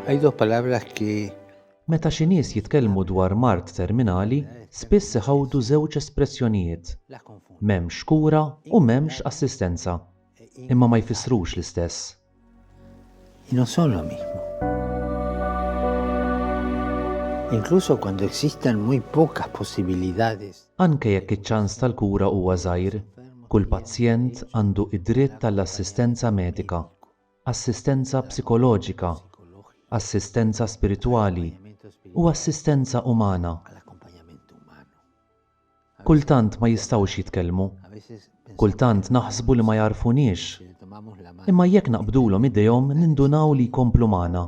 Hay dos palabras que Meta xi nies jitkellmu dwar mard terminali, spiss iħawdu żewġ espressjonijiet, m'hemmx kura u m'hemmx assistenza, imma ma jfissrux l-istess. Y no son lo mismo. Incluso cuando existan muy pocas posibilidades. Anke jekk iċ-ċans tal-kura huwa żgħir, kull pazjent għandu id-dritt għall-assistenza medika, assistenza psikoloġika, assistenza spiritwali u assistenza umana. Kultant ma jistgħux jitkellmu. Kultant naħsbu li ma jagħrfuniex. Imma jekk naqbdulhom idejhom nindunaw li jkomplu magħna.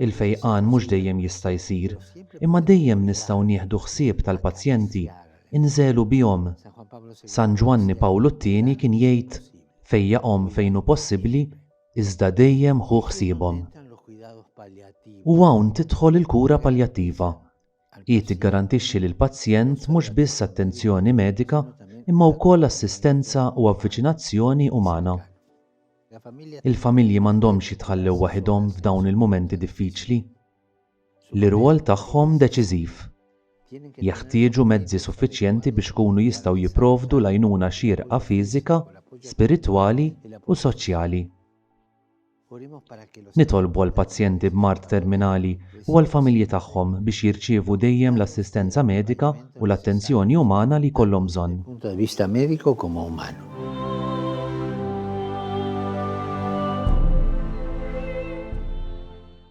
Il-fejqan mhux dejjem jista' jsir, imma dejjem nistgħu nieħdu ħsieb tal-pazjenti, inżegħlu bihom. San Ġwanni Pawlu t-Tieni kien jgħid, Fejjaqhom fejn hu possibbli iżda dejjem ħu ħsiebhom. U hawn tidħol il-kura paljattiva. Hi tiggarantixxi lill-pazjent mhux biss attenzjoni medika imma wkoll assistenza u avviċinazzjoni umana. Il-familji m'għandhomx jitħallew waħidhom f'dawn il-mumenti diffiċli. li r-rwol tagħhom deċiżiv. Jeħtieġu mezzi suffiċjenti biex ikunu jistgħu jipprovdu l-għajnuna xierqa fiżika, spiritwali u soċjali. Nitolbu għall-pazjenti b'mard terminali u għall-familji tagħhom biex jirċievu dejjem l-assistenza medika u l-attenzjoni umana li jkollhom bżonn.